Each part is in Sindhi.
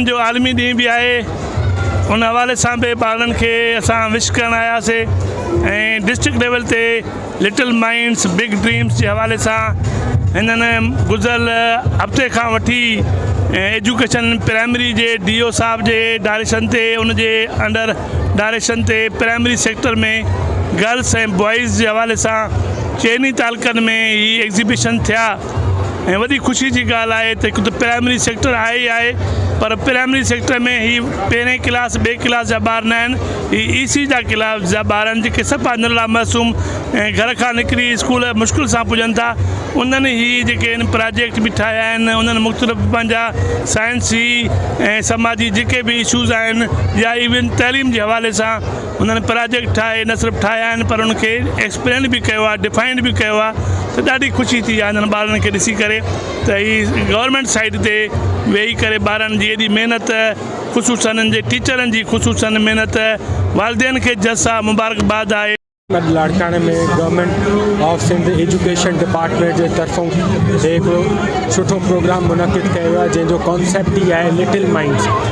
ٻارن جو عالمي ڏينهن به آهي ان حوالي سان به ٻارن کي اسان وش ڪرڻ آياسي ۽ ڊسٽرڪٽ ليول تي لٽل مائنڊس بگ ڊريمس جي حوالي سان هنن گذريل هفتي کان وٺي ايجوڪيشن پرائمري جي ڊي او صاحب جي ڊائريڪشن تي ان جي انڊر ڊائريڪشن تي پرائمري سيڪٽر ۾ گرلس ۽ بوائز جي حوالي سان چئني تعلقن ۾ هي ايگزيبشن ٿيا ۽ وڏي خوشي جي ڳالهه آهي ته هڪ ته پرائمري سيڪٽر آهي ئي آهي پر پرائمري سيڪٽر ۾ هي پهرين ڪلاس ٻئي ڪلاس جا ٻار نه آهن هي اي سي جا ڪلاس جا ٻار آهن جيڪي صفا نلا معصوم ۽ گهر کان نڪري اسڪول مشڪل سان پڄن ٿا انهن هي جيڪي آهن پراجيڪٽ به ٺاهيا آهن انهن مختلف پنهنجا سائنسي ۽ سماجي جيڪي به اشوز آهن يا ايون تعليم جي حوالي سان انهن پراجيڪٽ ٺاهي نه صرف ٺاهيا آهن پر ان کي ايڪسپلين به ڪيو آهي ڊفائنڊ به ڪيو آهي ته ڏاڍي خوشي ٿي آهي انهن ٻارن کي ڏسي ڪري ته هي گورنمينٽ سائيٽ تي ويهي ڪري ٻارن جي ايڏي محنت خصوصا انهن جي ٽيچرن جي خصوصا محنت والدين کي جس آهي مبارڪباد آهي اڄ لاڙڪاڻي ۾ government of Sindh education department جي طرفون هڪڙو سٺو پروگرام منعقد ڪيو ويو آهي جنهن جو ڪانسيپٽ ئي آهي لٽل مائنڊس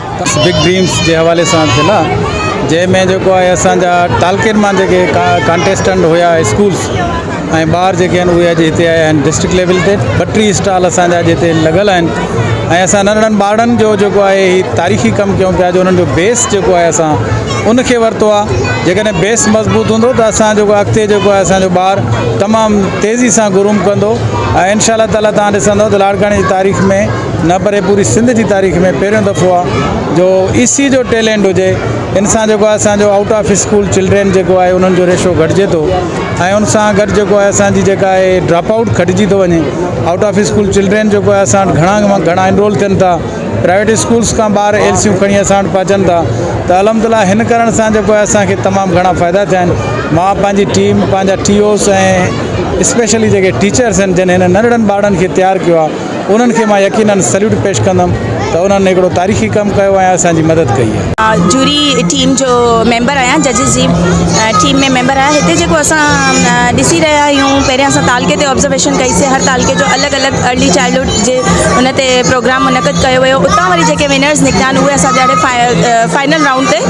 بگ ڊريمس جي حوالي سان ٿيل آ جنهن ۾ جيڪو آهي اسان جا تعلقي مان جيڪي ڪانٽيسٽنٽ هيا اسڪولس ۽ ٻار جيڪي آهن اهي اڄ هتي آيا آهن ڊسٽرڪٽ ليول تي ٻٽيهه اسٽال اسان جا اڄ هتي لڳل آهن ۽ اسان ننڍڙن ٻارڙن جو جيڪو آهي هي تاريخي ڪم ڪيون پيا جو انهن جو بيس جيڪو آهي اسان ان کي ورتو آ جيڪڏهن بيس مضبوط هوندو ته اسان جيڪو اڳتي جيڪو آهي اسان جو ٻار تمام تيزي سان گروم ڪندو ۽ انشاء الله تعاليٰ تان ڏسندو ته لاڙڪاڻي جي تاريخ ۾ نه پري پوري سنڌ جي تاريخ ۾ پهريون دفعو آ جو اي سي جو ٽيلينٽ هجي ان سان جيڪو آهي اسان جو آئوٽ آف اسڪول چلڊرين جيڪو آهي انهن جو ريشو گهٽجي ٿو ۽ ان سان گڏ جيڪو آهي اسان جي جيڪا آهي ڊراپ آئوٽ گهٽجي ٿو وڃي آئوٽ آف اسڪول چلڊرين جيڪو آهي اسان وٽ گهڻا کان گهڻا انرول ٿين ٿا پرائيويٽ اسڪولس کان ٻار ايل سيون کڻي اسان وٽ پهچن ٿا ته الحمد لله هن ڪرڻ سان جيڪو آهي اسانکي تمام گهڻا فائدا ٿيا آهن مان پنهنجي ٽيم پنهنجا ٽي اوس ۽ اسپيشلي جيڪي ٽيچرس آهن جن هن ننڍڙن ٻارڙن کي تيار ڪيو آهي انهن کي مان يقينن سليوٽ پيش ڪندم ته انهن هڪڙو تاريخي ڪم ڪيو ۽ اسان جي مدد ڪئي آهي. جوري ٽيم جو ميمبر آهيان ججز جي ٽيم ۾ ميمبر آهيان هتي جيڪو اسان ڏسي رهيا آهيون پهريان اسان تعلقي تي آبزرويشن ڪئي سي هر تعلقي جو الڳ الڳ ارلي چائلڊهوڊ جي ان تي پروگرام منعقد ڪيو ويو اتان وري جيڪي ونرز نڪتا آهن اهي اسان جهڙي فائنل رائونڊ تي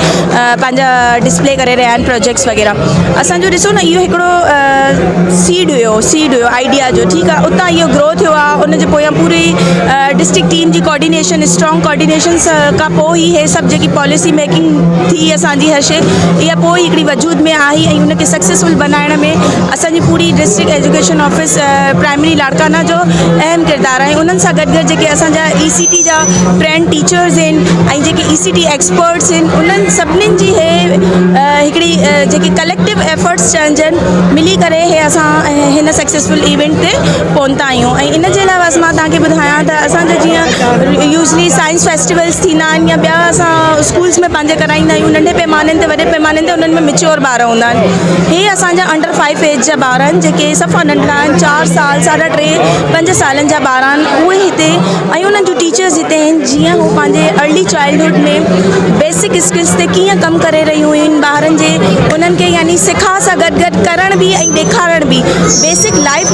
پنهنجا ڊسپلي ڪري رهيا آهن پروجيڪٽس وغيره اسان جو ڏسو نه اهو هڪڙو سيڊ هيو سيڊ هيو آئيڊيا جو ٺيڪ آ اتان اهو گرو ٿيو آ ان جي پويان پوري ڊسٽرڪٽ ٽيم جي ڪوآرڊينيشن اسٽرانگ ڪوآرڊينيشن سان کان پوء ئي هي سڀ جيڪي پاليسي ميڪنگ ٿي اسان جي هر شي اها پوء ئي هڪڙي وجود ۾ آئي ۽ ان کي سڪسيسفل بنائڻ ۾ اسان جي پوري district education office primary Larkana جو اهم ڪردار آهي انهن سان گڏ گڏ جيڪي اسان جا اي سي ٽي جا فرينڊ ٽيچرز آهن ۽ جيڪي اي سي ٽي ايڪسپرٽس آهن انهن سڀني جي هي هڪڙي جيڪي ڪليڪٽو ايفرٽس چئن جن ملي ڪري هي اسان هن سڪسيسفل ايونٽ تي پهتا آهيون ۽ ان جي علاوه اسان مان توهان کي ٻڌايان ته اسان جا جيئن يوزلي سائنس فيسٽيولس ٿيندا آهن يا ٻيا اسان اسڪولس ۾ پنهنجي ڪرائيندا آهيون ننڍي پيمانن تي وڏي پيمانن تي انهن ۾ ميچيور ٻار هوندا آهن هي اسان جا انڊر فائيو ايج جا ٻار آهن جيڪي صفا ننڍڙا آهن چار سال ساڍا ٽي پنج سالن جا ٻار آهن اهي هتي ۽ انهن جون ٽيچرس هتي آهن جيئن هو پنهنجي early childhood ۾ basic technique skills تي ڪيئن ڪم ڪري رهيون آهن ٻارن جي انهن کي يعني سکاء سان گڏ گڏ ڪرڻ به ۽ ڏيکارڻ به بيسڪ لائف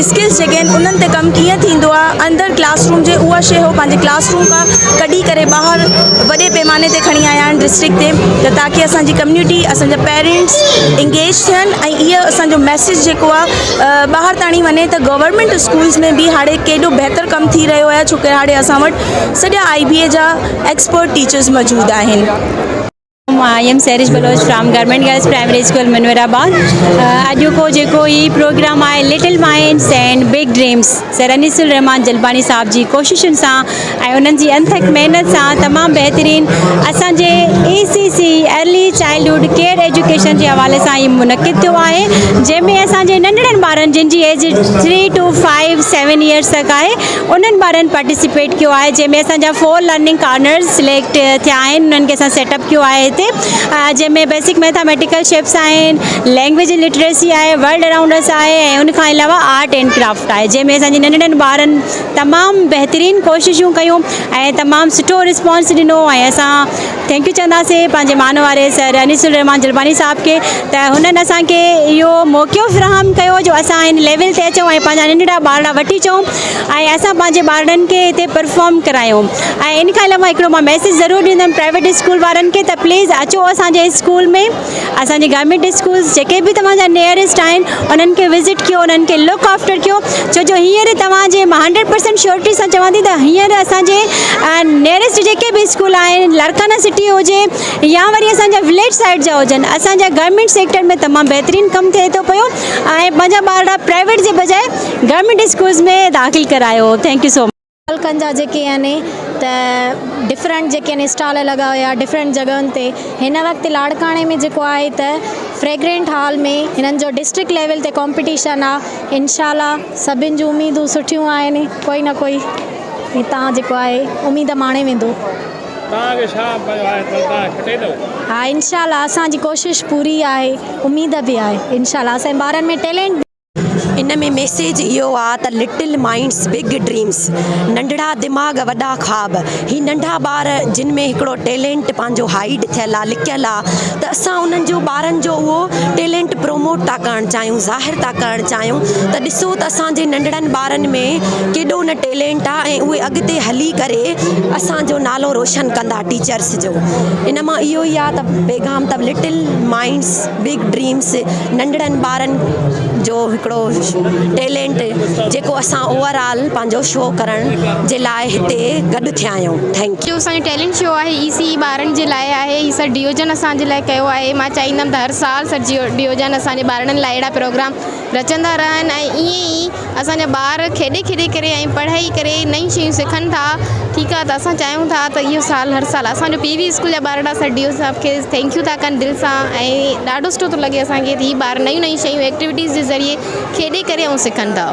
اسڪلس جيڪي آهن انهن تي ڪم ڪيئن ٿيندو آهي اندر ڪلاس روم جي اها شيء هو پنهنجي ڪلاس روم کان ڪڍي ڪري ٻاهر وڏي پيماني تي کڻي آيا آهن ڊسٽرڪٽ تي ته تاڪي اسانجي ڪميونٽي اسانجا پيرنٽس انگيج ٿين ۽ اهي اسانجو ميسيج جيڪو آهي ٻاهر تاڻي وڃي ته گورنمنٽ اسڪولس ۾ به هاڻي ڪيڏو بهتر ڪم ٿي رهيو آهي ڇو ڪري هاڻي اسان وٽ سڄا آئي بي اي جا ايڪسپرٽ ٽيچرز موجود آهن. مان am Siraj Baloch from government girls primary school Munawarabad اڄوڪو جيڪو هي پروگرام آهي little minds and big dreams sir Anees ur Rahman Jalbani صاحب جي ڪوششن سان ۽ انهن جي انٿڪ محنت سان تمام بهترين اسان جي E C C early childhood care education جي حوالي سان هي منعقد ٿيو آهي جنهن ۾ اسان جي ننڍڙن ٻارن جن جي age three to five seven years تڪ آهي انهن ٻارن پارٽيسپيٽ ڪيو آهي جنهن ۾ اسان جا فور لرننگ ڪارنرز سليڪٽ ٿيا آهن انهن کي اسان سيٽ اپ ڪيو آهي هتي جنهن ۾ بيسڪ ميٿاميٽيڪل شيپس آهن لينگويج لٽريسي آهي ورلڊ اراؤنڊ اس آهي ۽ ان کان علاوه آرٽ اينڊ ڪرافٽ آهي جنهن ۾ اسان جي ننڍڙن ٻارن تمام بهترين ڪوششون ڪيون ۽ تمام سٺو رسپانس ڏنو ۽ اسان ٿينڪ يو چونداسين پنهنجي مان واري سر انيس الرحمان جلباني صاحب کي ته هنن اسان کي اهو موقعو فراهم ڪيو جو اسان هن ليول تي اچون ۽ پنهنجا ننڍڙا ٻارڙا وٺي اچون ۽ اسان پنهنجي ٻارڙن کي هتي پرفارم ڪرايون ۽ ان کان علاوه هڪڙو مان ميسيج ضرور ڏيندم پرائيويٽ اسڪول وارن کي ته پليز اچو اسانجي اسڪول ۾ اسان جي گورنمينٽ اسڪولز جيڪي به توهان جا نيئرسٽ آهن انهن کي وزٽ ڪيو انهن کي لڪ آفٽر ڪيو ڇو جو هينئر توهان جي مان هنڊريڊ پرسينٽ شيورٽي سان چوان ٿي ته هينئر اسان جي نيئرسٽ جيڪي به اسڪول آهن لارڪانا سٽي هجي يا وري اسان جا وليج سائيڊ جا هجن اسان جا گورنمينٽ سيڪٽر ۾ تمام بهترين ڪم ٿئي ٿو پيو ۽ پنهنجا ٻارڙا پرائيويٽ جي بجاء گورنمينٽ اسڪولز ۾ داخل ڪرايو ٿينڪ يو سو مچ ملڪن جا جيڪي آهن ته ڊفرنٽ جيڪي آهن اسٽال لڳا هيا ڊفرنٽ جڳهن تي هن وقت لاڙڪاڻي ۾ جيڪو آهي ته فريگرنٽ هال ۾ هنن جو ڊسٽرڪٽ ليول تي ڪمپٽيشن آ انشاء الله سڀن جون اميدون سٺيون آهن ڪوئي نه ڪوئي هتان جيڪو آهي اميد ماڻي ويندو تان کي شا پيو آهي ته تان کٽي ٿو ها انشاء الله اسان جي ڪوشش پوري آهي اميد به آهي انشاء الله اسان ٻارن ۾ ٽيلنٽ ان ۾ ميسيج اهو آ ته لٽل مائنڊس بگ ڊريمس ننڍڙا دماغ وڏا خواب هي ننڍا ٻار جن ۾ هڪڙو ٽيلينٽ پنهنجو هائيڊ ٿيل آ لڪيل آ ته اسان انهن جو ٻارن جو اهو ٽيلينٽ پروموٽ ٿا ڪرڻ چاهيون ظاهر ٿا ڪرڻ چاهيون ته ڏسو ته اسان جي ننڍڙن ٻارن ۾ ڪيڏو نه ٽيلينٽ آ ۽ اهي اڳتي هلي ڪري اسان جو نالو روشن ڪندا ٽيچرس جو ان مان اهو ئي آ ته پيغام ته لٽل مائنڊس بگ ڊريمس ننڍڙن ٻارن جو هڪڙو ٽيلينٽ جيڪو اسان اوور آل پنهنجو شو ڪرڻ جي لاء هتي گڏ ٿيا آهيون ٿينڪ جو اسان جو ٽيلينٽ شو آهي هي سي ٻارن جي لاء آهي هي سر ڊيوجن اسان جي لاء ڪيو آهي مان چاهيندم ته هر سال سر جيو ڊيوجن اسان جي ٻارڙن لاء اهڙا پروگرام رچندا رهن ۽ ائين ئي اسان جا ٻار کيڏي کيڏي ڪري ۽ پڙهي ڪري نئيون شيون سکن ٿا ٺيڪ آ ته اسان چاهيون ٿا ته اهو سال هر سال اسان جو پي وي اسڪول جا ٻارڙا سر ڊي او صاحب کي ٿينڪيو ٿا ڪن دل سان ۽ ڏاڍو سٺو ٿو لڳي اسان کي ته هي ٻار نيون نيون شيون ايڪٽيوٽيز جي ذريعي کيڏي ڪري ۽ سکن ٿا.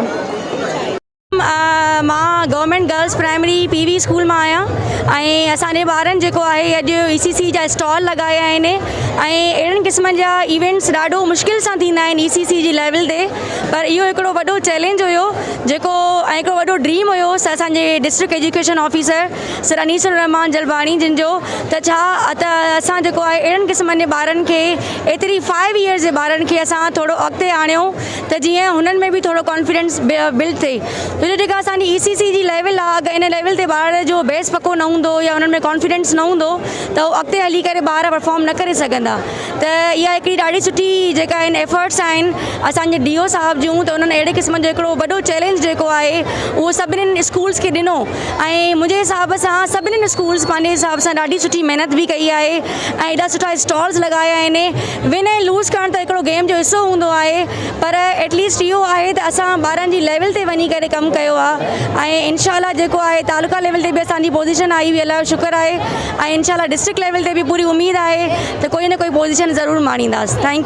مان government girls primary P V school مان آهيان ۽ اسان جي ٻارن جيڪو آهي اڄ اي سي سي جا اسٽال لڳايا آهن ۽ اهڙن قسمن جا ايونٽس ڏاڍو مشڪل سان ٿيندا آهن اي سي سي جي ليول تي پر اهو هڪڙو وڏو چئلينج هيو جيڪو ۽ هڪڙو وڏو ڊريم هيو اسانجي district education officer sir Anees ur Rahman Jalbani جن جو ته ڇا ته اسان جيڪو آهي اهڙن قسمن جي ٻارن کي ايتري فائيو ايئرس جي ٻارن کي اسان ٿورو اڳتي آڻيو ته جيئن هنن ۾ به ٿورو ڪانفيڊنس بلڊ ٿئي ڇو جو جيڪا اسان جي اي سي سي جي ليول آهي اگر ان ليول تي ٻار جو بيس پڪو نه هوندو يا انهن ۾ ڪانفيڊنس نه هوندو ته هو اڳتي هلي ڪري ٻار پرفارم نه ڪري سگهندا ته اها هڪڙي ڏاڍي سٺي جيڪا ان ايفرٽس آهن اسانجي ڊي او صاحب جون ته انهن اهڙي قسم جو هڪڙو وڏو چئلينج جيڪو آهي اهو سڀنن اسڪولس کي ڏنو ۽ منهنجي حساب سان سڀنن اسڪولس پنهنجي حساب سان ڏاڍي سٺي محنت به ڪئي آهي ۽ ايڏا سٺا اسٽالز لڳايا آهن ون ۽ لوز ڪرڻ ته هڪڙو گيم جو حصو هوندو آهي پر ايٽ ليسٽ اهو آهي ته اسان ٻارن جي ليول تي وڃي ڪري ڪم ڪيو آهي ۽ انشاء الله جيڪو آهي تعلقه ليول تي به اسان جي پوزيشن آئي هئي الله جو شڪر آهي ۽ انشاء الله ڊسٽرڪٽ ليول تي به پوري اميد آهي ته ڪوئي نه ڪوئي پوزيشن ضرور ماڻينداس ٿينڪ